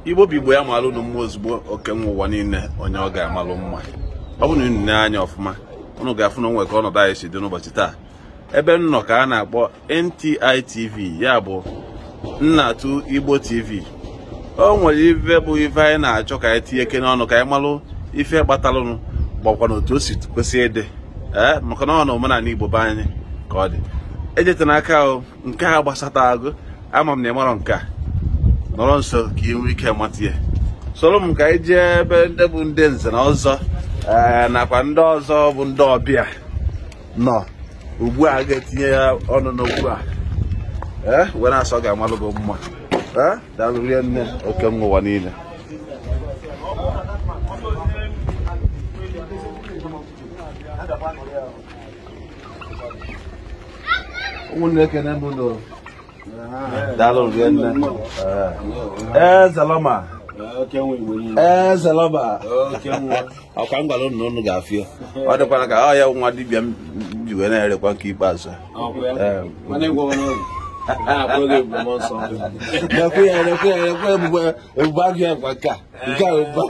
igbo bụ igbo ya malụ unu mma ozugbo oke nwa ụwa niile onye ọ ga-amalụ mma ọ bụrụ na unu nee anya ọfụma unu ga-afụ na o nwe ka ọnọdụ anyị si dị n'ụbọchị taa ebe m nọ ka a na-akpọ NTI TV ya bụ Nnatụ Igbo TV o nwere ife bụ ife anyị na-achọ ka anyị tinyekene ọnụ ka anyị malụ ife kpatalụnụ gbakwa na otu o si kwesị ịdị ee maka na ọ na omenala Igbo be anyị ka ọ dị ejete n'aka ahụ nke a gbasata agụ ama m na ị marọ nke a nọrọ nso ka ị nwee ike mata ya soro m ka anyị jee ebe ndị bụ ndị nze na ọzọ ee nakwa ndị ọzọ bụ ndị ọbịa nọ ugbu a ga-etinye ya ọnụ n'okwu a ee wee na-asọ ọ ga-amalụ gị mma ee daalụ rinne oke nwa ụwa niile ụmụnne ekene m ụnụ daalụ rinne ezelọma ezelọma ọ kwa m gwara ụnụ ụnụ ga-afụ ya ọ dịkwara ka ọ ya nwa dibịa m ji wee na-erekwa nke ikpeazụ Ekwe ya, ekwe ya, ekwe ebube agụ ya gwa nke a. nke a ụba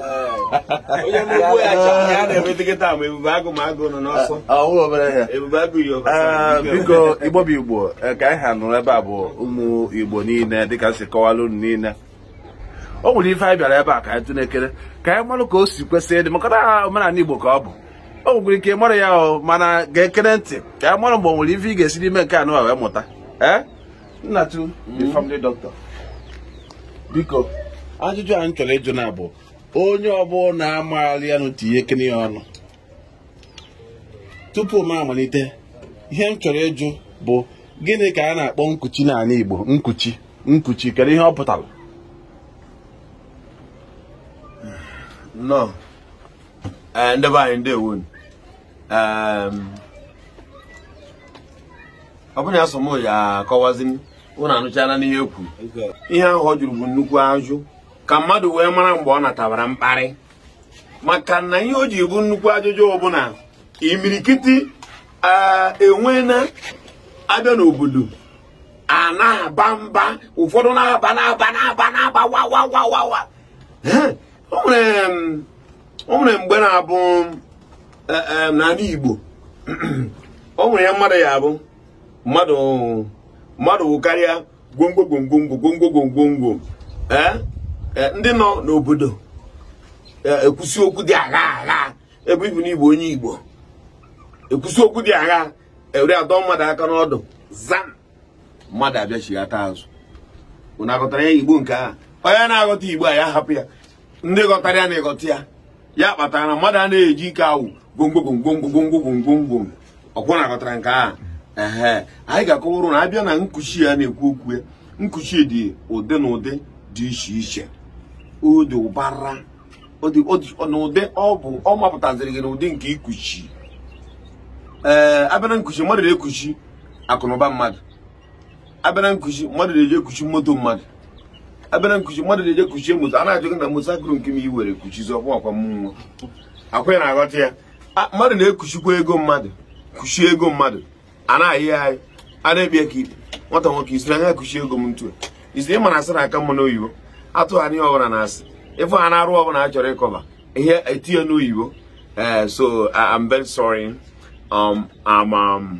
onye na-egbu ya aja ya na-eme dịkịta ma ebube agụ ma agụ nọ n'ọsọ ọwụ obere ihe ebube agụ yi ọkụ Ee, biko igbo bụ igbo ee, ka anyị ha nọrọ ebe a bụ ụmụ igbo niile dịka m si kọwara unu niile o nwere ife anyị bịara ebe a ka anyị tụnekere ka anyị marụ ka o si kwesị ịdị maka na omenala igbo ka ọ bụ o nwekwara ike ị marọ ya o mana gekere ntị ka anyị mara mgbe o nwere ife ị ga-esi n'ime nke anụ a wee mụta ee Nnatu the hmm. family doctor biko ajụjụ anyị chọrọ ịjụ na bụ onye ọbụla maara ya nụ tinyekene ya ọnụ tupu m amalite ihe m chọrọ ịjụ bụ gịnị ka a na-akpọ nkuchi n'ala Igbo nkuchi nkuchi kedu ihe ọ pụtara nnọọ eh, ndị be anyị ndewo ọ bụrụ na asụọ m ya akọwazi m ụnụ anụchala n'ihe e kwuru ihe ahụ ọ jụrụ bụ nnukwu ajụ ka mmadụ wee mara mgbe ọ natabara mkparị maka na ihe o ji bụ nnukwu ajụjụ bụ na imirikiti iwe na-ada n'obodo a na-aba mba ụfọdụ na-aba na-aba na-aba na-aba wa wa wa wa wa o nwere o nwere mgbe na-abụ e, e, n'ala Igbo o nwere ya mmadụ ya abụ mmadụ wụkarịa gwongwo gwongwo gwongwo gwongwo gwongwo ee Eh, ndị nọ n'obodo eh, ekwusi okwu dị agha agha ebe ibu n'igbo onye igbo ekwusi okwu dị agha ewere adọ mmadụ aka n'ọdụ zam mmadụ abịachighata azụ unu aghọtara ya igbo nke a onye na-aghọta igbo a ya hapụ ya ndị ghọtara ya na-aghọta ya ya kpatara na mmadụ a na-eji ike awụ gwomgwogwomgwomgwomgwomgwomgwom ọkwa unu aghọtara nke a ehe anyị ga-akọwara unu abịa na nkuchi a na-ekwu okwu ya nkuchi dị ụdị na ụdị dị iche iche ọ dị ụbara n'ụdị ọ bụ ọ mapụtaziri gị n'ụdị nke ikuchi ee abịa na nkuchi mmadụ na-ekuchi akụnụba mmadụ abịa na nkuchi mmadụ na-eji ekuchi moto mmadụ abịa na nkuchi mmadụ na-eji ekuchie moto a na-ajụ gị na moto akụrụ nke m i were kuchizi ọkwa ọkwa mmụọ akwa ya na-aghọta ya A- mmadụ na-ekuchikwa ego mmadụ kuchie ego mmadụ a na-ayọ ya ayọ a na-ekpe ya ka ikpe nwata nwoke isiri anya kuchie ego m ntu isiri ịma na asị na-aka mma n'oyibo atụgharị ihe ọbụla na asị ịfụ ha na-arụ ọbụla a chọrọ ịkọba ihe etinye n'oyibo ee so I- I'm very sorry um, I'm um,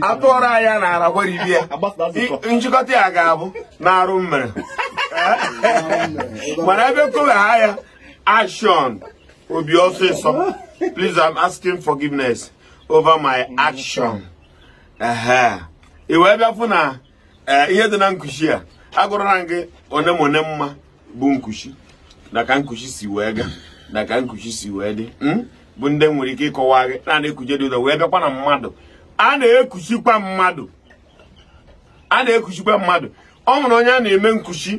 atụọrọ anya na ara gwaribie njikọta ya ga-abụ na arụ m mere mana ebe kowe ha ya action o bie ọsịsọ please i'm asking forgiveness over my action ehe i wee bịa fụ na ee ihe dị na nkuchi a agụrụra gị one m one m ma bụ nkuchi na ka nkuchi si wee gaa na ka nkuchi si wee dị hmm? bụ ndị nwere ike ịkọwa gị na a na-ekuchi dị ụzọ wee bịakwa na mmadụ a na-ekuchikwa mmadụ a na-ekuchikwa mmadụ ọ nwere onye a na-eme nkuchi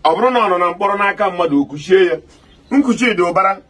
ọ bụrụ na ọ nọ na mkpọrọ n'aka mmadụ o kuchie ya nkuchi dị ụbara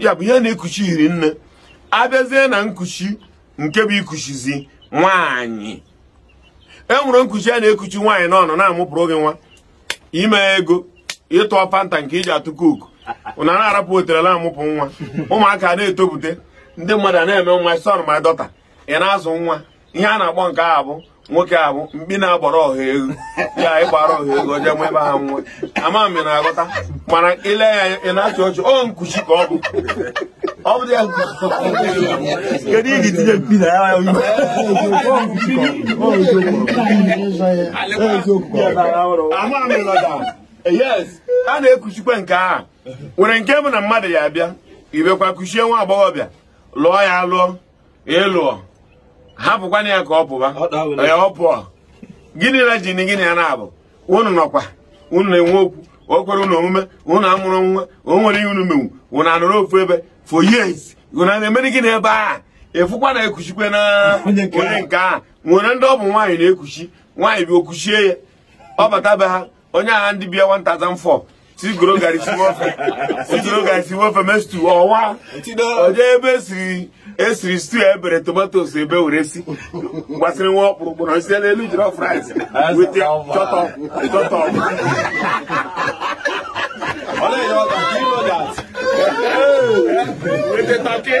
ya bụ ihe a na-ekuchi hiri nne abịazie na nkuchi nke bụ ikuchizi nwaanyị e nwere nkuchi a na-ekuchi nwaanyị n'ọnụ na-amụpụrụ gị nwa ime ego ịtụ Fanta nke iji atụ Coke na na-arapụ otele na-amụpụ nwa ụmụaka na-etopụta ndị mmadụ na-eme nwa son ma daughter ị na-azụ nwa ihe a na-akpọ nke a bụ nwoke a bụ mkpi na-agbara ọha ewu ya ịgbara ọha ewu oje nwe ebe ha nwa ama m na-aghọta mana i lee ya anya ị na-achị ọchị ọ nkuchi ka ọ bụ ọ bụ ya kedu iji tinye mkpi na ya yes a na-ekuchikwa nke a nwere nke bụ na mmadụ ya abịa ibekwa kuchie nwa agbọghọbịa lụọ ya alụọ ị lụọ hapụkwana ya ka ọ pụba ya ọ pụọ gịnị na jini gịnị ya na-abụ unu nọkwa unu na-enwe okwu o kwere unu omume unu amụrụ nwa o nwere ihe unu menwu unu anọrọ ofu ebe for years unu na-emere gịnị ebe a ị fụkwa na ekuchikwe na onye nke a nwere ndị ọ bụ nwaanyị na-ekuchi nwaanyị ibe o kuchie ya ọ bata be ha onye agha ndị bịa 1004 si goro gari si nwofe si goro gari si nwofe mee stew ọwa oje ebe esiri esiri stew e bere tomatoes ebe were si gbasịrị nwa ọkpụrụkpụ na isi n'elu jiri fries wete chọtọ chọtọ wete turkey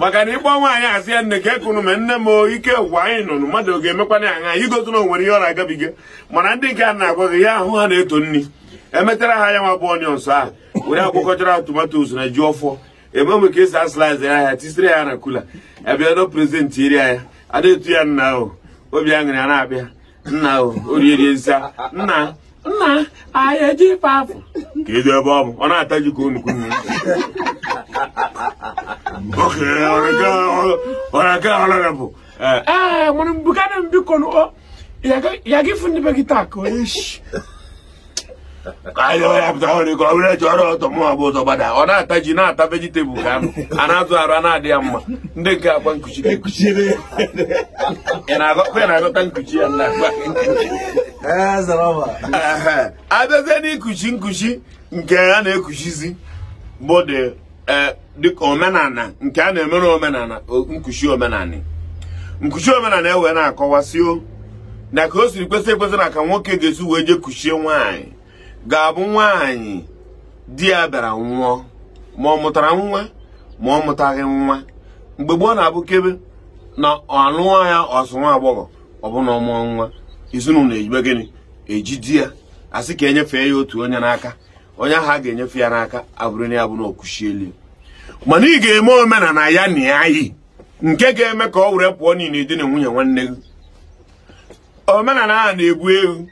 maka na ịgba nwaanyị asị ya nne ka ekụnụ ma nne m ike gwa anyị nụnụ mmadụ ọ ga-emekwana ya anya igosi na o nwere ihe ọ na-agabiga mana ndị nke a na-agwa gị ya ahụ ha na-eto nri emetara ha ya nwa bụ onions ahụ were akwụkọchara tomatoes na ji ọfọ ebe mgbe ka esi a-slice ya ahịa tisiri ya na cooler ebiado present iri ya a na-eto ya nna ahụ obi aṅụrị ya na-abịa nna orierieza nna nna anyị eji ife afọ kedụ ebe ọ bụ ọ na-ata ji ka anụ ka unu oke ọrịa nke ọrịa bụ ee mụrụ mbukana biko ya gị fụ ndị be gị taa ka onye isi ahịa ọhịa pụta ọrị ka ọ bụrụ eji ọrụ ọtọ mụ abụ ụzọ gbada ọ na-ata ji na-ata vegetable ka anụ a na-azụ arụ ana-adị ya mma ndị nke akwa nkuchi ekuchiri ya ị na-agọkwa ị na-aghọta nkuchi ya na akwa ee zaraba a bịazie n'ikuchi nkuchi nke a na-ekuchizi bụ dị ee eh, dịka omenala nke a na-emere omenala nkuchi omenala nkuchi omenala e wee na-akọwasị na ka o siri kwesị ekwesị na ka nwoke ga-esi wee jee kuchie nwaanyị ga-abụ nwaanyị di ya bịara nwụọ ma ọ mụtara nwa ma ọ mụtaghị nwa mgbe gboo na-abụ kebe na ọ lụọ ya ọsụ nwa agbọghọ ọ bụ na ọ mụọ nwa ezinụlọ ejibe gịnị eji di ya asị ka enyefee ya otu onye n'aka onye ahụ a ga-enyefe ya n'aka abụrụ na ya bụ na o kuchieli mana ị ga-eme omenala ya na ya yi nke ga-eme ka o were pụọ niile dị na nwunye nwanne gị omenala ahụ na-ebu ewu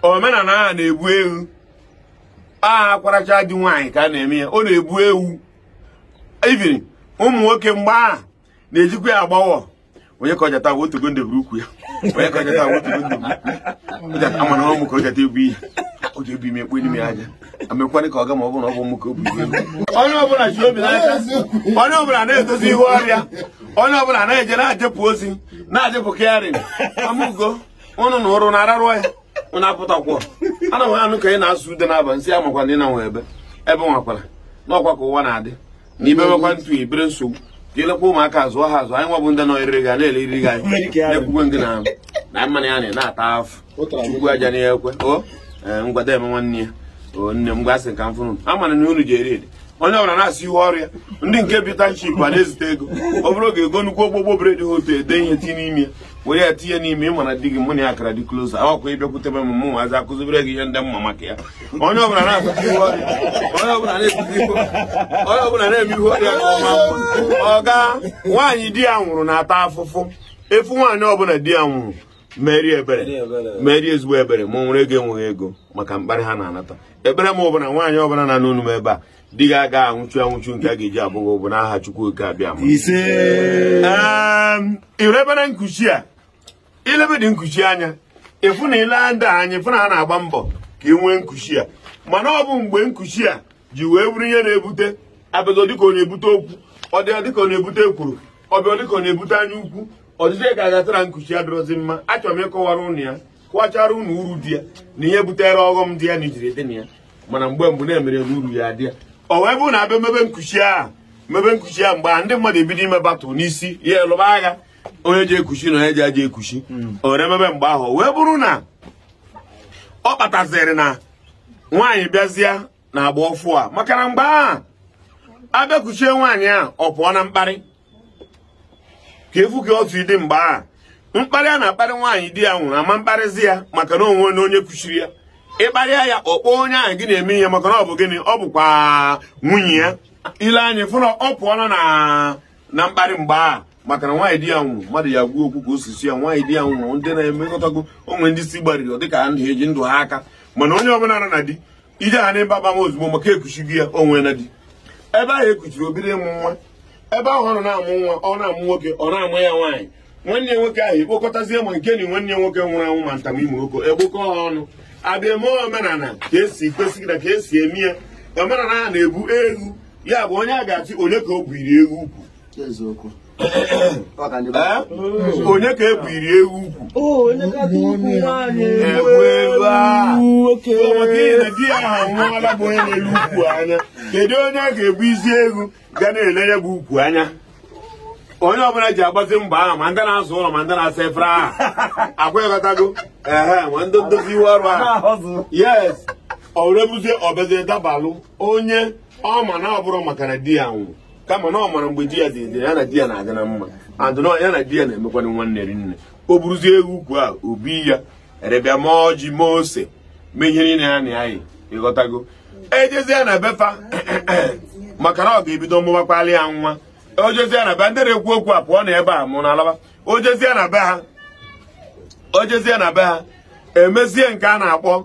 omenala ahụ na-ebu ewu aha a kwaracha di nwaanyị ka a na-eme ya ọ na-ebu ewu ibiri ụmụ nwoke mgbe ahụ na-ejikwa ya agbawa onye ka ọjata bụ otu gonde buru ukwu ya onye ka ọjata bụ otu gonde buru ukwu ya amana ọ mụ ka ọjata ebu ihe ọ ga-ebu ime ekpo n'ime aja amekwanị ka ọ ga ma ọ bụ na ọ bụ mụ ka o bu ihe onye ọbụla ji obi n'aka onye ọbụla na-edozi ihu ọrịa onye ọbụla na-eje na-ajepụ ozi na-ajepụ kịarịn amụgo ụnụ na ụrụ na-ararụ ya ụnụ apụtakwa ana m anụ ka ị na-asụ ude n'abansị amakwa na ị na nwe ebe ebe nwakwara n'ọkwa ka ụwa na-adị na ibewekwa ntu ibere nsogbu ka elekwa ụmụaka azụ ha azụ anyị nwa bụ ndị nọ eriri gị a na-ele eriri gị anyị na-ekwukwe gị na na mmanụ ya na-ata afụ chukwu aja na ekwe o ee, ngwada eme nwanne ya o nne m gwasị ka m fụrụ unu. ama m na unu ji eri eri onye ọbụla na-asị ihu ọrụ ya ndị nke bi township a na-ezite ego ọ bụrụ oge ego nnukwu ogbogbo bread ha otu ede ihe tinye n'ime ya were ya tinye n'ime ị ma na di gị mụ na ya kara dị close ọkwa ị bịakwutebe m mụ nwazi akụzibere gị ihe ndị mma maka ya onye ọbụla na-akụzi ihe ọrụ ya onye ọbụla na-ebizi ihe onye ọbụla na-eme ihe ọrụ ya nke ọma mma ọga nwaanyị di ya nwụrụ na-ata afụfụ efu nwaanyị ọbụla di ya nwụrụ meere ya ebere meere ya ezigbo ebere ma o nwere ego enweghị ego maka mkparị ha na-anata ekpere m bụ na nwaanyị ọbụla na-anụ onu m ebe a di gị aga anwụchu anwụchu nke a ga-eji abụghị ụbụ n'aha Chukwu oke abịama i lebere nkuchi a i lebedị nkuchi anya ị fụ na i lee ndị anya ị fụ na ha na-agba mbọ ka e nwee nkuchi a mana ọ bụ mgbe nkuchi a ji wee bụrụ ihe na-ebute abịago dịka ọ na-ebute okwu ọ dịọ dịka ọ na-ebute ekworo ọ bịa dịka ọ na-ebute anya ukwu ọdịdị ka ya kpatara nkuchi adịrọzi mma achọrọ m ịkọwara unu ya kọwachara unu uru dị ya na ihe butere ọghọm dị ya na ijiri dị na ya mana mgbe mbụ na-emere n'uru ya dị ya ọ wee bụrụ na a bịa mebe nkuchi ahụ mebe nkuchi ahụ mgbe a ndị mmadụ ebido ime battle n'isi ya a lụba agha onye je ekuchi na onye ji aja ekuchi hmm. o were mebe mgbe ahụ wee bụrụ na ọ kpataziri na nwaanyị bịazịa na agba ọfụụ a maka na mgbe ahụ a bịa kuchie nwaanyị a ọ pụọ na mkparị ka a fụ gị otu ị dị mgbe ahụ mkparị a na-akparị nwaanyị di ya nwụrụ ama akparịzi ya maka na o nwee onye kuchiri ya ị kparịa ya ọ kpọọ onye ahụ gị na-eme ihe maka na ọ bụ gịnị ọ bụkwa nwunye ya i lee anya ị fụ na ọ pụọla na mkparị mgbe a maka na nwaanyị di ya nwụrụ mmadụ ya gwuo okwu ka osisi ya nwaanyị di ya nwụrụ ndị na-emekọtago onwe ndị si gbariri dịka ndụ eji ndụ ha aka mana onye ọbụla nọ na di ije ha n'ebe abam ozugbo maka ekuchigo ya o nwena di ebe ahụ ekuchiri o biri mụọ nwa ebe ahụ ọ nọ na-amụ nwa ọ na-amụ nwoke ọ na-amụ ya nwaanyị nwanne ya nwoke ahụ ekpokọtazie ma nke na nwanne ya nwoke nwụrụ anwụ ma nta ma imo oko ekpokọ ha ọnụ a bịa mee omenala ka esi kwesị na ka esi eme ya omenala a na-ebu ewu ya gbuo onye a ga-achị onye ka o buuru ewu ukwu onye ka ebuuru ewu ukwu maka di ya anwụọla bụ onye na-ele ukwu anya kedu onye ga-ebu isi ewu ga na-ele ya bụ ukwu anya onye ọbụla ji agbazi mbọ ahụ ma ndị na-aza ụlọ ma ndị na-asa efere ahụ aghọtago ehe ma ndị ndozi iwe ọrụ ahụ yes ọrebuzie ọ bezie dabalụ onye ọ ma na ọ bụrụ maka na di ya nwụrụ kama na ọ mara mgbe di ya dị ndụ ya na di ya na-adị na mma adịna ya na di ya na-emekwana nwanne rinne o buruzie ewu ukwu a ọ bịa were bịa ma ọjị ma ose mee ihe niile ya na anyị ịghọtago ejezie na be fa maka na ọ ga-ebido mụbakwala ya nwa o jezie na be ndị na-ekwu okwu a pụọ na ebe a mụ na alaba o jezie na be ha o jezie na be ha emezie nke a na-akpọ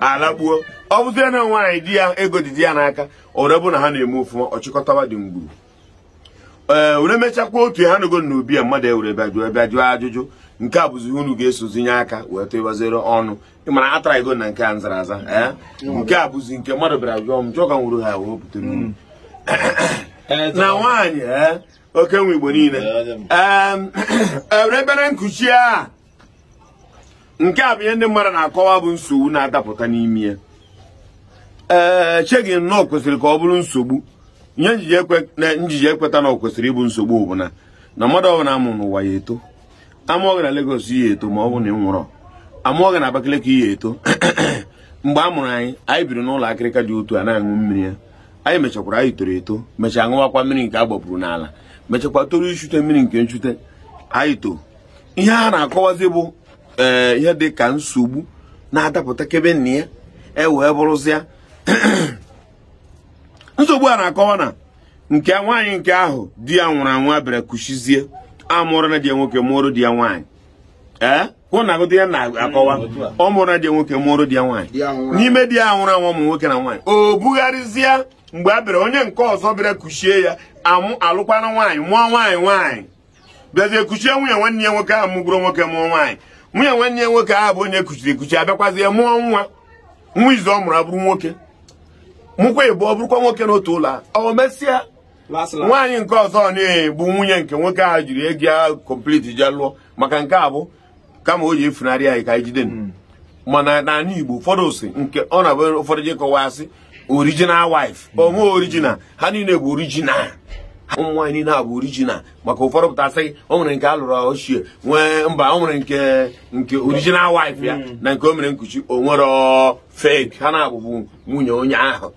alagbuo ọ bụzie na nwaanyị di ya ego dị di ya n'aka ọ bụrụ na ha na-eme ọfụma ọ chịkọtawa ndị mgburu ee were mechakwa otu ha nago na obi ya mmadụ ewere bịa jụọ bịa jụọ ajụjụ nke a bụzi unu ga-esozi nye aka wee tụbazie ọnụ ịmara atara ego na nke a m zara aza ee nke a bụzi nke mmadụ bịara jụọ m jụọ ka m buru ha wee pụtara unu na nwaanyị ee nwoke n'Igbo niile ee ebe na nkuchi a nke a bụ ihe ndị mmadụ na-akọwa bụ nsogbu na-adapụta n'ime ya ee eh, echeghị m na ọ kwesịrị ka ọ bụrụ nsogbu ihe m jighị ekweta na ọ kwesịrị ịbụ nsogbu bụ na na mmadụ ọbụla a mụrụ n'ụwa ya-eto a mụọ gị na Lagos ị ya-eto ma ọ bụ na ị nwụrọ a mụọ gị na Abakaliki ị ya-eto mgbe a mụrụ anyị anyị biri n'ụlọ akịrịka dị otu a na-aṅụ mmiri iyi anyị mechakwara anyị toro eto mechaa ṅụwakwa mmiri nke a gbapụrụ n'ala mechakwa toro ichute mmiri nke nchute anyị too ihe a na-akọwazi bụ ee eh, ihe dị ka nsogbu na-adapụta kebe nna ya e wee bụrụzịa nsogbu a na-akọwa na nke nwaanyị nke ahụ di ya nwụrụ anwụ a bịara kuchizie amụrụna di ya nwoke mụrụ di ya nwaanyị ee eh? unu na-aghọta ihe m na-akọwa ọ mụrụna di ya nwoke mụrụ di ya nwaanyị n'ime di ya nwụrụ anwụ ụmụ nwoke na nwaanyị ọ bụgharịzịa mgbe a bịara onye nke ọzọ bịara kuchie ya amụ alụkwana nwaanyị mụọ nwaanyị nwaanyị bịazie kuchie nwunye nwanne ya nwoke ahụ mụburu nwoke mụọ nwaanyị nwunye nwanne ya nwoke ahụ bụ onye kuchiri ekuchi abịakwazie mụọ nwa nwa izizi ọ mụrụ abụrụ nwoke mụkwa ịbụọ bụrụkwa nwoke n'otu ụlọ a o mesịa nwaanyị nke ọzọ na bụ nwunye nke nwoke ahụ jiri ego ya complete jee lụọ maka nke a bụ kama ọ ya-efunarị anyị ka anyị jide hmm. mana n'ala Igbo ụfọdụ sị nke ọ na-abụ ụfọdụ ji akọwa sị original wife hmm. o nwe original ha niile bụ original ụmụ nwaanyị niile bụ original maka ụfọdụ pụta asị o nwere nke a lụrụ kuchie nwee mba o nwere nke nke original wife ya hmm. na nke o mere nkuchi o nwerọ fake ha naabọ bụ nwunye onye ahụ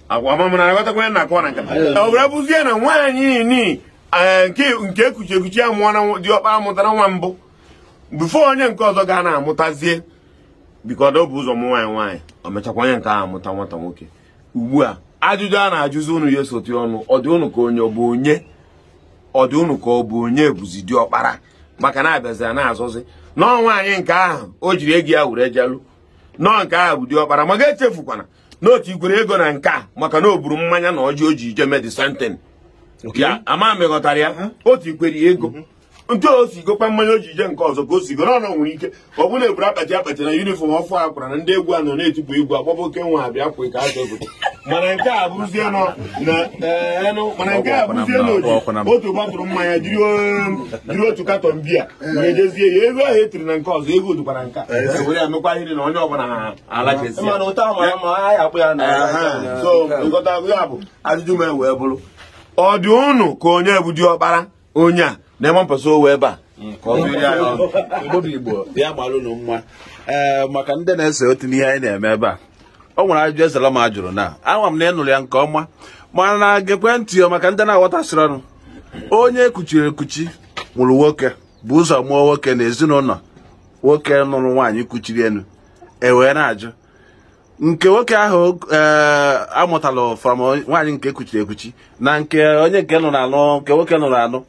agwa ma mara aghọtakwa na-akọ na nkata ọ bụrụ bụzie na nwaanyị ni eh, nke nke e kuchiri ekuchi amụọna diọkpara amụtara nwa mbụ before onye nke ọzọ ga na-amụtazie because o bu ụzọ mụọ nwaanyị nwaanyị ọ mechakwa onye nke ahụ amụta nwata nwoke ugbu a ajụjụ a na-ajụzi unu ya-eso tinye ọnụ ọ dị unu ka onye ọ bụ onye ọ dị unu ka ọ bụ onye bụzi diọkpara maka na abịazira na-azọzi na ọ nwaanyị nke ahụ o jiri ego ya were je lụ na ọ nke ahụ bụ diọkpara ma gị echefukwana n'otu i kwere ego na nke a maka na ọ bụrụ mmanya na ọjị o ji eje mee the same thing ya ama m ị ghọtara ya uh-huh. otu i kwere ego uh-huh. nke o si gokwa mmanya o ji eje nke ọzọ ka o si go n'ọnụ nwere ike ọ bụrụ na e buru akpati akpati na uniform ọfụụ a kwara na ndị egwu a nọ na-etipụ egwu agbaba oke nwa abịa kwe ka aja obodo mana nke a bụrụzie nọ na eh, enụ mana nke a bụrụzie na otu gbatụrụ mmanya jiri um, otu katọn biya wee jezie ya ego ahụ e tiri na nke ọzọ ego dịkwara nke a eh. were ya mekwa ihe na onye ọbụla mana ụta mara mma anyị akpụ ya na so nkọta ya bụ ajụjụ m wee bụrụ ọ dị unu ka onye bụ diọkpara onye a na-eme mpasa owe ebe a obodo igbo ya gbalụ unu mma ee maka ndị na-esote n'ihe anyị na-eme ebe a o nwere ajụjụ ezelam jụrụ na ama m na ị nụrụ ya nke ọma mana na gekwe ntị ya maka ndị na-aghọtasịrọnụ onye e kuchiri ekuchi mụrụ nwoke bu ụzọ mụọ nwoke na ezinụlọ nwoke nụrụ nwaanyị kuchiri elu e wee na-ajụ nke nwoke ahụ eh, mụtalụ from nwaanyị nke e kuchiri ekuchi na nke onye nke nụrụ anụ nke nwoke nụrụ anụ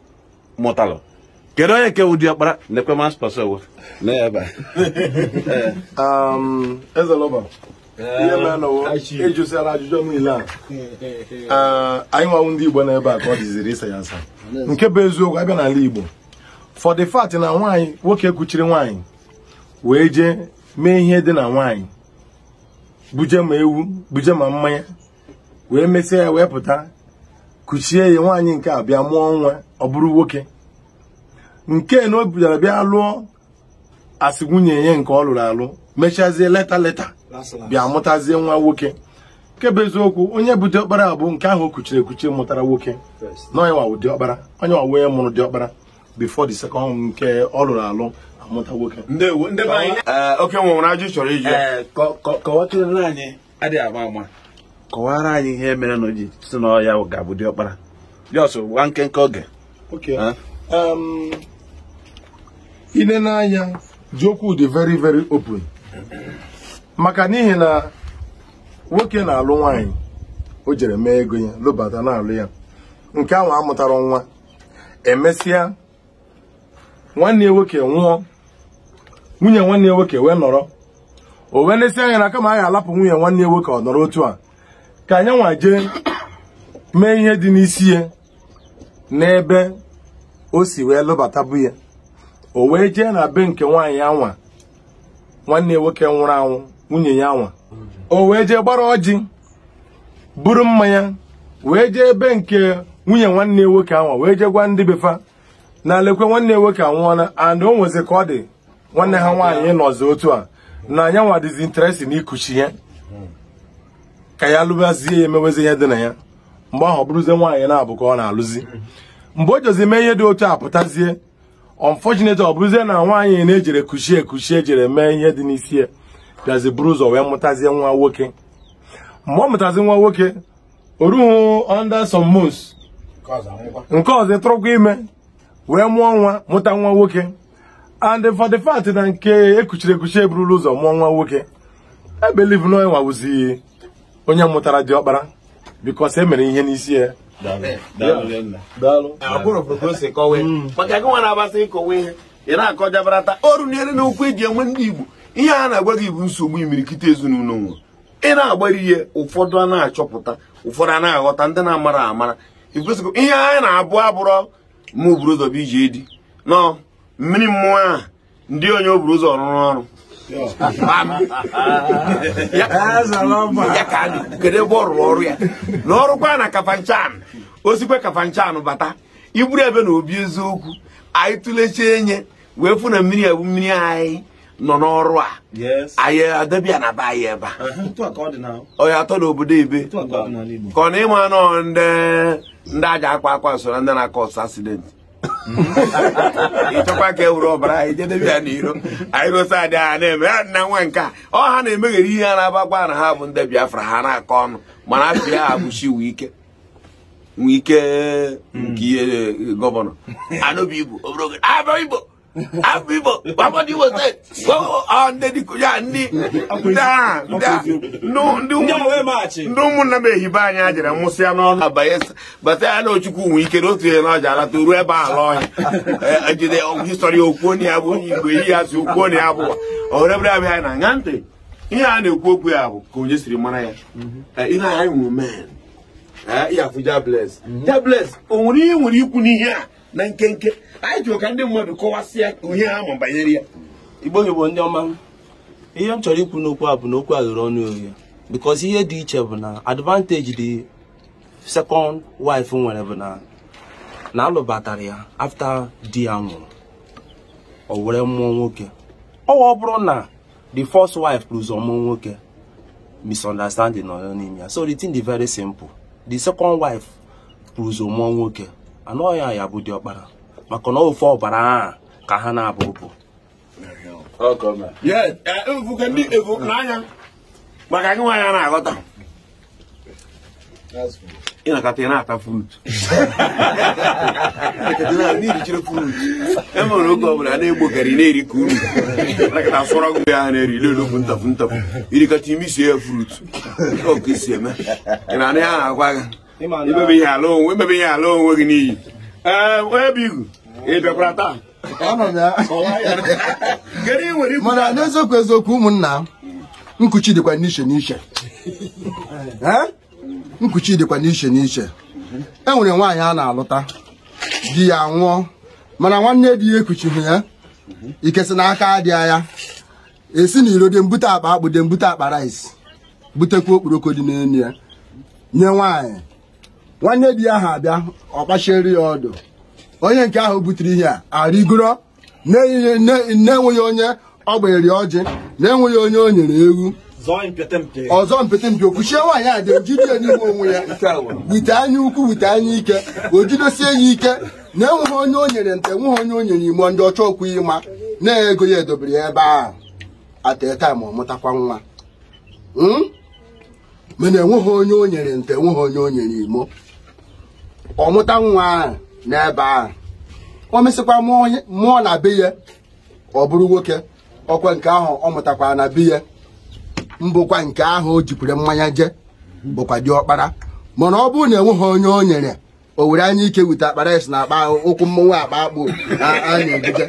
mụtalụ kedu onye nke wụ diọkpara na-ekwe mas pasowo ezelọba ihe mere na a jụsịala ajụjụ niile a ah, anyị nwa wụ ndị igbo na ebe a ka ọ dịziri ịsa ya asa nke bụ eziokwu a bịa n'ala igbo for the fact na nwaanyị nwoke kuchiri nwaanyị wee jee mee ihe dị na nwaanyị buje ma ewu buje ma mmanya wee mesịa ya wee pụta kuchie ya nwaanyị nke a bịa mụọ nwa ọ bụrụ nwoke nke na o bidara bịa lụọ asị nwunye ya nke ọ lụrụ alụ mechazie later later bịa mụtazie nwa nwoke nke bụ eziokwu onye bụ diọkpara bụ nke ahụ o kuchiri ekuchi mụtara nwoke na onye nwa wụ diọkpara onye nwa wụ onye mụrụ diọkpara before the second nke ọ lụrụ alụ amụta nwoke ndewo ndị be anyị Ee, okay o nwe nwere ajụjụ ị chọrọ ịjụ ya. Ee, kọ- kọ- kọwatụrụ anyị adịghị ama ama kọwara anyị ihe mere na o ji sị na ọ ya ga-abụ diọkpara just gwa nkenke oge Okay. Huh? Um, i lee n'anya ji okwu dị very very open maka n'ihi na nwoke na-alụ nwaanyị o jere mee ego ya lụbata na-alụ ya nke ahụ amụtarọ nwa e mesịa nwanne ya nwoke nwụọ nwunye nwanne ya nwoke wee nọrọ o wee nesị anya na kama a ga-alapụ nwunye nwanne ya nwoke ọ nọrọ otu a ka nya nwa jee mee ihe dị n'isi ya n'ebe o si wee lụbatabu ya o wee jee na be nke nwaanyị anwa nwanne ya nwoke nwụrụ anwụ nwunye ya anwa o wee jee gbara ọjị buru mmanya wee jee ebe nke nwunye nwanne ya nwoke anwa wee jee gwa ndị befa na lekwe nwanne ya nwoke anwụọla and o nwezi ka ọ dị nwanne ha nwaanyị nọzi otu a na ya nwa dịzi interest na ikuchi ya ka ya lụbazie ya emewezi ihe dị na ya mgbe ahụ ọ bụrụzie nwaanyị naabọ ka ọ na-alụzi mgbe o jezi mee ihe dị otu a pụtazie unfortunately ọ bụrụzie na nwaanyị na e jere kuchie ekuchi e jere mee ihe dị n'isi ya bịazi buru ụzọ wee mụtazie nwa nwoke mgbe ọ mụtazi nwa nwoke o ruhu under some months nke ọzọ tụrụkwa ime wee mụọ nwa mụta nwa nwoke and for the fact na nke e kuchiri ekuchi eburula ụzọ mụọ nwa nwoke e believe na ya nwa wụzi onye mụtara diọkpara. because e mere ihe n'isi ya maka gị nwa na-agbasa ịkọwa ihe ị na-akọjabarata oru na eri na okwu eji enwe ndị Igbo ihe a na-agwa gị bụ nsogbu imirikiti ezinụlọ nwere ị na-agbara ihe ụfọdụ a na-achọpụta ụfọdụ a na-aghọta ndị na-amara amara ikwesịkwa ihe anyị na-abụ abụrọ mụ buru ụzọ bụ iji edi nọ mmiri mmụọ ahụ ndị onye o buru ụzọ rụrụ ọrụ ya ka kedu ebe ọ rụrụ ọrụ ya na ọ rụkwa na Kafanchan o sikwa Kafanchan bata iburu ebe na obi eziokwu anyị tụlechaa anyị wee fụ na mmiri ebu mmiri anyị nọ n'ọrụ a anyị adabịa na be anyị ebe a onye atọ n'obodo ebe ka ọ na ịma nọ ndị aja akwa akwa so na ndị na-acause accident ịchọkwa ka e were ọbara anyị jedebe ya n'iro anyị gosi adị ha na-eme ya nna nwa nke a ọ ha na-emeghere ihe a na-abagwa na ha bụ ndị Biafra ha na-akọ ọnụ mana afọ ya abụchi Wike Wike nke ihe gọvanọ na Obigbo abụ igbo abụ igbo gbamọdụ igbo steeti ndị dịkụ ya ndị ndị ụmụnna m ehibe anyị a jere mụsịa n'ọnụ abanye bata ya na ochukwu nwe ike na otu ihe na ọja alata ruo ebe ahụ ọhịa jide history o kwuo na ya bụ onye igbo eyi ya si o kwuo na ya bụ ọhụrebere abịa anyị na-aṅa ntị ihe a na-ekwu okwu ya bụ ka onye siri mara ya ihe anyị nwere men ya afụ jables jables o nwere ihe nwere ikwu n'ihe a na nkenke anyị chọrọ ka ndị mmadụ kọwasịa ihe ha ma banyere ya igbo igbo ndị ọma ihe m chọrọ ikwu n'okwu a bụ na okwu a ghere ọnụ oghe because ihe dị iche bụ na advantage the second wife nwere bụ na a lụbatara ya after di ya nwụrụ o were mụọ nwoke o wee bụrụ na the first wife buru ụzọ mụọ nwoke misunderstanding nọ n'ime ya so the thing dị very simple the second wife bu ụzọ mụọ nwoke na ọ ya ya-abụ diọkpara maka na ofe ọbara ahụ ka ha na-abụ bụ efuke ndị efu n'anya maka gị nwaanyị a na-aghọta ị na-akata ị na-ata frut na-erichiri frut e nwere oge ọ bụla na-egbogari na-eri ka uru nakọta sọrọ gị ya na-eri lelogbu ntapu ntapu irikata imi sie ya frut ọka isi eme ị na-anaghị agwa gị imebe ihe ala onwe imebe ihe ala onwe gị n'iyi ee onye bụ igu ị bịakwara taa Anọ m ya. kọwaa ya kedu ihe i nwere ikwu mana n'eziokwu eziokwu ụmụnna m, nkuchi dịkwa n'iche n'iche Eh? nkuchi dịkwa n'iche n'iche e nwere nwaanyị a na-alụta di ya nwụọ mana nwanne di ya ekuchighị ya ike si n'aka adị ya esi n'iro dị ebute akpa akpụ dị ebute akpa rice butekwa okporoko dị n'elu ya nye nwaanyị nwanne di ya ha abịa ọ kpachiere ya ọdụ onye nke ahụ butere ihe a arịgoro na-enweghị onye ọ gbanyere ọjị na-enweghị onye o nyere ewu ọzọ mpete mpe o kuchie nwaanyị a dị ejide ya n'ime onwe ya wite anya ukwu wite anya ike o jidosie ya ike na enweghị onye o nyere nta enweghị onye o nyere imo ndị ọchọ okwu ị ma na ego ya edobere ya ebe ahụ at a time ọ mụtakwa nwa hmm? mana enweghị onye o nyere nta enweghị onye o nyere imo ọ mụta nwa ahụ n'ebe ahụ o mesịkwa mụọ na be ya ọ bụrụ nwoke ọkwa nke ahụ ọ mụtakwa na be ya mbụkwa nke ahụ o jikwere mmanya je bụkwa diọkpara mana ọ bụrụ na enweghị onye o nyere o were anya ike wute akpa rice na akpa ụkwụ mmọnwụ akpa akpụ a na-ebuje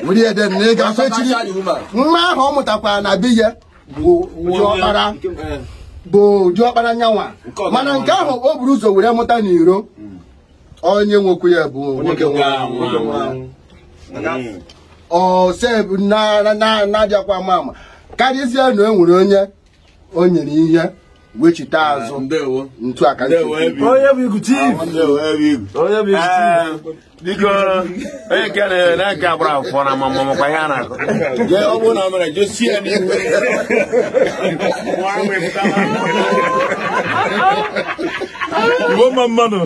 were ya then na ị ga-afọ echiri nwa ahụ ọ mụtakwa na be ya bụ diọkpara nyanwa mana nke ahụ o buru ụzọ were mụta n'iro onye nwekwu ya bụ nwoke ọsebụ na-adịakwa ama ama karịzie na e nwere onye o nyere ihe wechite azụ ndewo ntu aka ndewo ebi onye bụ igu chief ndewo ebi onye bụ igu chief biko onye nke na nke agbara akwụkwọ na ma makwa ihe a na-akọje ọ bụrụ na ọ mere jesie ya n'ihu Igbo mma mma nụ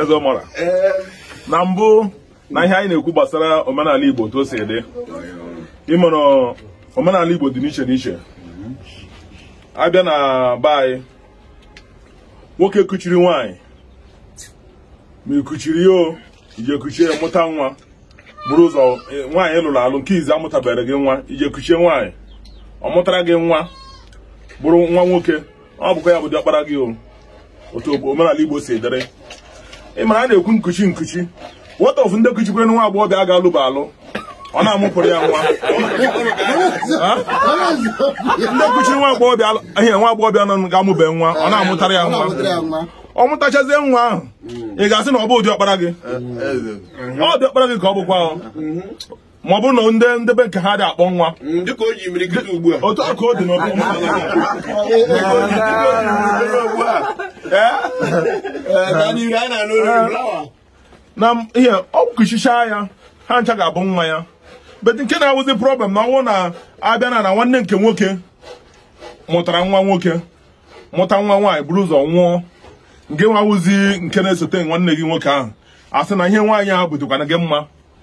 eze ọmara na mbụ na ihe anyị na-ekwu gbasara omenala Igbo otu o si dị ị mara omenala Igbo dị n'iche n'iche a bịa na be anyị nwoke kuchiri nwaanyị ma i kuchiri ya i je kuchie ya mụta nwa buru ụzọ e, nwaanyị ị lụrụ alụ nke izi amụtabere gị nwa i je kuchie nwaanyị ọ mụtara gị nwa bụrụ nwa nwoke ọ bụkwa ya bụ diọkpara gị o otu omenala Igbo si dịrị ị mara a na-ekwu nkuchi nkuchi what of ndị kuchikwere nwa agbọghọbịa ga-alụba alụ ọ na-amụpụrụ ya nwa ndị kuchiri nwa agbọghọbịa ihe nwa agbọghọbịa nọ ga-amụbe nwa ọ na-amụtara ya nwa ọ mụtachazie nwa ahụ ị ga-asị na ọ bụ diọkpara gị ọ diọkpara gị ka ọ bụkwa ma ọ bụrụ na ndị be nke ha dị akpọ nwa otu a ka ọ dị na ihe o kuchichaa ya ha ncha ga-abụ nwa ya but nke na-awụzi problem na ọnwụ na-abịa na na nwanne nke nwoke mụtara nwa nwoke mụta nwa nwaanyị buru ụzọ nwụọ nke nwa wụzi nke na-esote nwanne gị nwoke ahụ asị na ihe nwaanyị ahụ bụdịkwana gị mma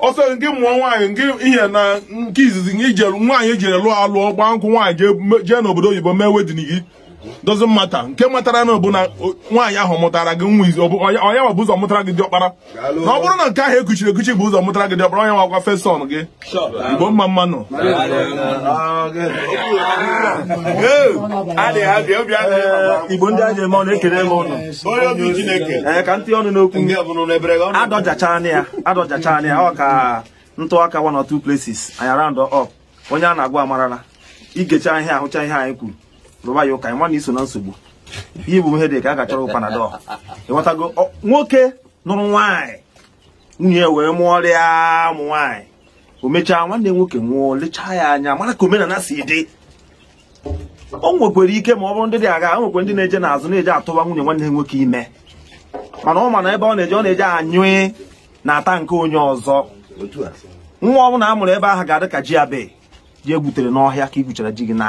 ọsọ nke mụọ nwaanyị nke ihe na nke izizi nke i jelu nwaanyị e jere lụọ alụọ gbaa nkwụ nwaanyị jee me- jee n'obodo oyibo mee wedding it doesn't matter nke matara na ọ bụ na nwaanyị ahụ mụtara gị nwa izi onye nwa bu ụzọ mụtara gị diọkpara na ọ bụrụ na nke ahụ e kuchiri ekuchi bu ụzọ mụtara gị diọkpara onye nwakwa first son gị Igbo mma mma nụ Igbo ndị e ji eme ọnụ ekele m ụnụ ka m tii ọnụ n'okwu adọjachana ya adọjachana ya o ka m tụ aka one or two places anyị round up onye a na-agwa amarala ị gechaa ihe ahụcha ihe anyị kwuru rụba ya ụka ị ma na i so na nsogbu ihe bụ ihe dị ka a ga-achọrọ gị panadol ịghọtago Ọ- nwoke nụrụ nwaanyị nwunye wee mụọrọ ya ụmụ nwaanyị o mechaa nwanne nwoke nwụọ lechaa ya anya mara ka omenala si dị o nwekwara ike ma ọ bụrụ ndị dị agha o nwekwara ndị na-eje n'azụ na-eje atụwa nwunye nwanne nwoke ime mana ọ ma na ebe ọ na-eje ọ na-eje anyụ n'ata nke onye ọzọ nwa ọ bụla a mụrụ ebe ahụ ga-adị ka ji abe ji e gwutere n'ọhịa ka i gwuchara ji gị na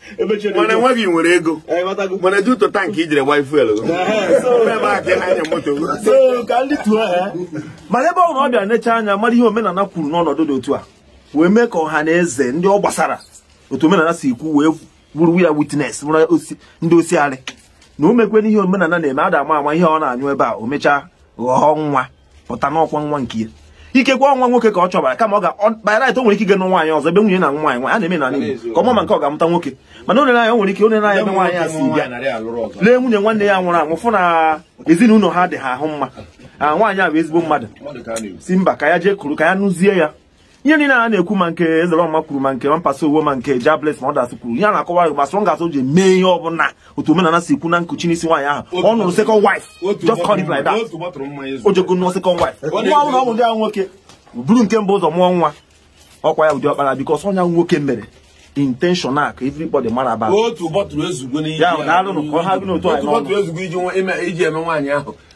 mana enweghị nwere ego mana dị ụtọ tank i jiri gba fuel mana ọ bụrụ na ọ bịa necha anya mara ihe omenala kwuru n'ọnọdụ dị otu a wee mee ka ọha na eze ndị ọ gbasara otu omenala si kwu wee wụrụ ya witness ndị osiarị na o mekwe n'ihe omenala na-eme ada ama ama ihe ọ na-anyụ ebe a o mechaa ghọọ nwa pụta n'ọkwa nwa nke ya ikekwe ọ nwa nwoke ka ọ chọbara kama ọ ga-abụrị o nwere ike ịga nụ nwaanyị ọzọ ebe nwunye na nwaanyị nwaanyị a na-eme n'ala Igbo ka ọ ma ma nke ọ ga-amụta nwoke mana o nere anya o nwere ike o nere anya ebe nwaanyị a si bịa lee nwunye nwanne ya nwụrụ anwụ fụ na ezinụlọ ha dị ha ahụ mma a nwaanyị a bụ ezigbo mmadụ si mba ka ya jee kuru ka ya nụzie ya ihe niile a na-ekwu ma nke Ezeloma kwuru ma nke Mampasa Owo ma nke Jabless ma ọ dasị kwuru ihe a na-akọwa gị gbasara ngasị o ji mee ihe ọbụla otu omenala si kwu na nkuchi n'isi nwaanyị ahụ ọ nụrụ second wife just call it like that o jego nụọ second wife nwa ọbụla ọ bụ ndị ahụ nwoke buru nke mbụ ụzọ mụọ nwa ọ kwa ya bụ diọkpara because onye nwoke mere intentional ka everybody mara aba otu bọtụrụ ezugbo n'ihe ya na alụnụ ka ọ ha gị n'otu anyị n'ọnụ iji eme nwaanyị ahụ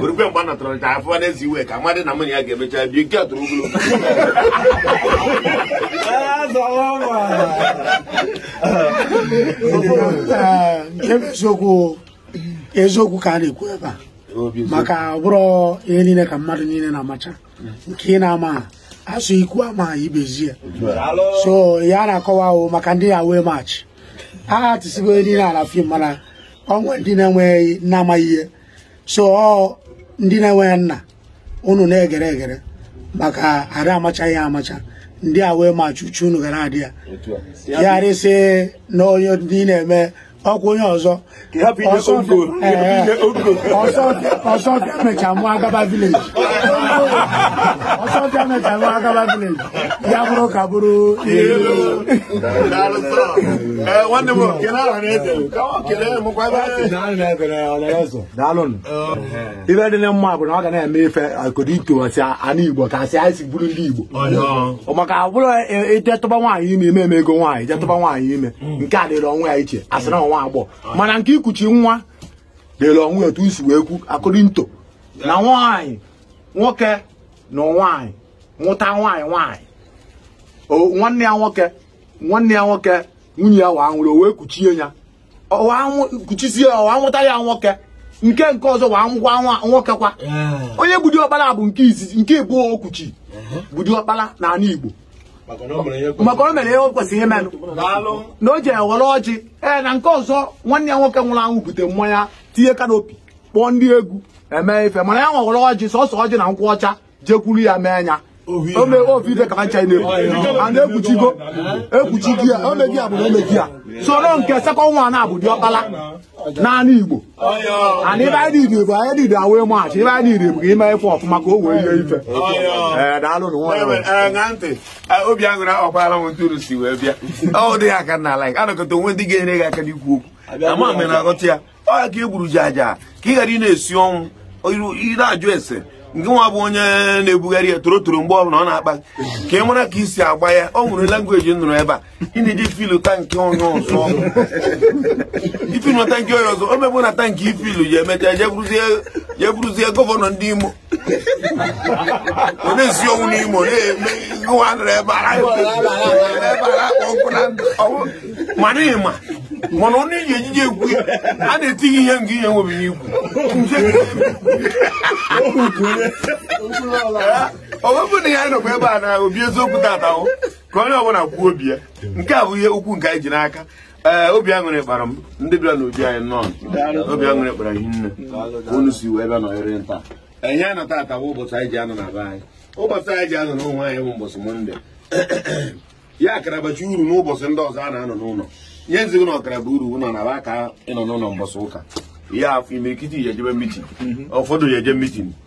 orukwe mgbe a natọrọ ncha afọ n'ezi iwe ka amadị na mụnye ya ga-emecha bi nke tụrụ ugwu nke bụ eziokwu eziokwu ka a na-ekwu ebe a maka ọ bụrọ ihe niile ka mmadụ niile na-amacha nke ị na-amaha a sị ikwu amaha ibe ezie so ya na-akọwa ahụ maka ndị a wee maachị a tisigo ihe niile ala fim mana o nwe ndị na-enweghị na-amaghị ihe so ọ ndị na-enweghị nna unu na-egere egere maka a ra amacha ihe amacha ndị a wee ma chuchu unu gara adị ya ya rịsị na onye ndị na-eme ọkwa onye ọzọ ọsọ bịa mecha mụ agaba village ọsọ bịa mecha mụ agaba village ya bụrụ ka bụrụ nwanne m kele aha na-eze kelee mụkwa daalụnụ ive dị na mma bụ na ọ ga na-eme ife akụdị ntowasị ana Igbo ka asị anyị si bụrụ ndị Igbo maka ọ bụrọ ije tụba nwaanyị ime eme eme ego nwaanyị je tụba nwaanyị ime nke a dịrị onwe ya iche a sị na ọ nwa agbọ mana nke ikuchi nwa dịrị onwe etu i si wee kwu akụdị nto na nwaanyị nwoke na nwaanyị nwụta nwaanyị nwaanyị nwanne ya nwoke nwanne ya nwoke nwunye ya wa nwụrụ o wee kuchie ya kuchisie ya wa nwụta ya nwoke nke nke ọzọ wa nwụkwa nwoke kwa onye bụ diọkpala bụ nke izizi nke ịbụọ o kuchi bụ diọkpala n'ala Igbo maka o mere ihe o kwesịrị imenụ na o ji ewere ọjị ee na nke ọzọ nwanne ya nwoke nwụrụ anwụ bute mmanya tinye canopy kpọọ ndị egwu eme ife mana ya nwa were ọjị sọsọ ọjị na nkwụ ọcha jekwuru ya mee anya ome ovive ka ncha na-ebu a na-ekuchigo ekuchi di ya omegi ya bụ na omegi ya soro nke second nwa na-abụ diọkpala n'anị Igbo ana ibe anyị niile bụ anyị niile awee maachị ibe anyị niile bụ ka ime ife ọfụma ka o wee ihe ife ee daalụ na nwa ya na ntị obi aṅụrị ọkwara m ntụrụ si wee bịa ọ dị ya aka na ala anọkọta o nwe ndị ga-enyere gị aka n'ikwu okwu ama m na-aghọta ya ọ ya ka e gburu ji aja ka ị ghara ị na-esi ọnwụ ị na-ajụ ese nke nwa bụ onye na-ebugharị ya torotoro mgbe ọbụla ọ na-akpa ka ị mara ka i si agba ya o nwere language m nụrụ ebe a ị na-eji fill tank onye ọzọ i fill na tank onye ọzọ o mebụ na tank i fill ya emecha je bụrụzie governor ndị Imo ọ na-esi ọnwụ n'Imo na-eme ngwa nọrọ ebe a ebe a na-akpọ nkụ na ndụ ọnwụ mana ịma mana ọ na-eji ejiji ekwu ya a na-etinye ihe nke ihe nwebi ikwu ọ bụrụ na ya nọkwa ebe a na obi eziokwu tata o ka onye ọbụla kwuo obi ya nke a bụ ihe okwu nke anyị ji n'aka ee obi aṅụrị kpara m ndị bịara n'obi anyị nọ obi aṅụrị kpara hi nne unu si wee bịa nọnyere nta ihe anyị na tata bụ ụbọchị anyị ji anọ na be anyị ụbọchị anyị ji anọ n'ụlọ anyị bụ ụbọchị mọnde ya akara bacha uru n'ụbọchị ndị ọzọ a na-anọ n'ụlọ ihe nzigo na ọ kara baa uru ụlọ na ba aka ịnọ n'ụlọ mbọchị ụka ya afụ imirikiti ya ejebe mitin ụfọdụ ya eje mitin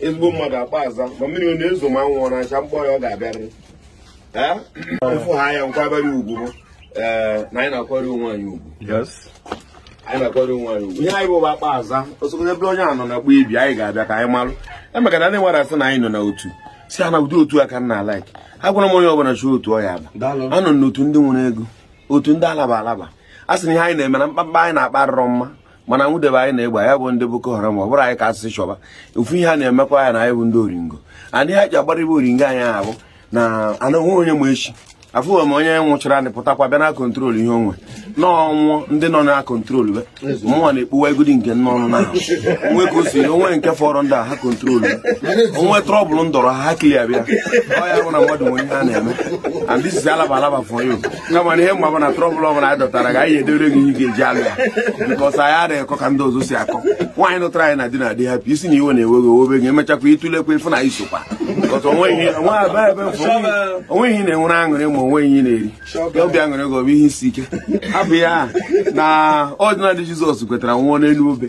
ezigbo mmadụ akpa aza ma mmiri ọ na-ezo ma anwụ ọ na-acha kpọọ ya ọ ga-abịarịrị Ee? ịfụ ha ya nkwabere ugwu bụ ee na anyị na-akwari onwe anyị ugwu Yes. anyị na-akwari onwe anyị ugwu ihe anyị bụ bụ akpa aza osogodo ebe onye a nọ na gba ibi anyị ga-abịa ka anyị malụ emeka na ndị nwere asị na anyị nọ na otu sị ha na ụdị otu a ka nna like agwara m onye ọbụla chọọ otu ọ ya aba Daalụ. anọ m n'otu ndị nwere ego otu ndị alaba alaba a sị na ihe anyị na-eme na mkpamkpa anyị na-akpa arịrọ mma mana nwụdebe anyị na-egba ya bụ ndị Boko Haram ọ bụrụ anyị ka asịsị chọba ofu ihe a na-emekwa ya na anyị bụ ndị oringo anyị ha ji agbara ibe oringo anyị ahụ na anụhụ onye ma echi afụghị m onye nwụchara anyị pụtakwa bịa na control ihe onwe n'ọnwụ ndị nọ na control be mụnwa na-ekpuwa egodi nke nne ọnụ na onwe ka o si onwe nke fọrọ ndị a ha control o nwee trouble ndọrọ ha ha clear bịa ọ ya bụ na mmadụ nwere ihe a na-eme and this is alaba alaba for you kama na ihe m ma bụ na trouble ọbụla anyị dọtara gị anyị edere gị ihe ga-eji alụ ya because anyị adịghị akọ ka ndị ọzọ si akọ nwaanyị nụtara anyị na di na di hapụ ịsị na iwe na-ewe gị o wee gị emechakwa ịtụlekwa ịfụ na i sokwa onweghị ihe na-enwere aṅụrị ma onweghị ihe na-eri obi aṅụrị gị ọ bụ ihe isi ike hapụ ya na ọdịnadị Jizọs kwetara nwụọ n'elu obe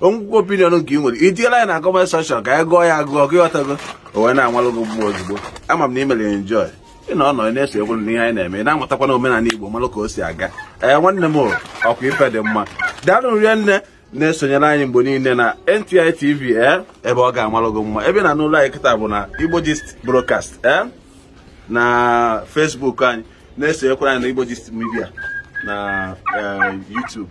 o nwekwu opinion nke ị nwere itiela ya na comment section ka anyị gụọ ya agụọ ka ịghọtago o wee na-amalụ gị mma ozugbo ama m na ị mere enjoy ị na ọ nọ na-eso egwu na ihe anyị na-eme ị na-amatakwa na omenala Igbo malụ ka o si aga ee nwanne m ọkwa ife dị mma daalụ rinne na-esonyere anyị mgbe niile na NTI TV ee ebe ọ ga-amalụ gị mma ebe na n'ụlọ anyị kịta bụ na Igbo Gist Broadcast ee na Facebook anyị na-esonyekwara anyị na Igbo Gist Media na YouTube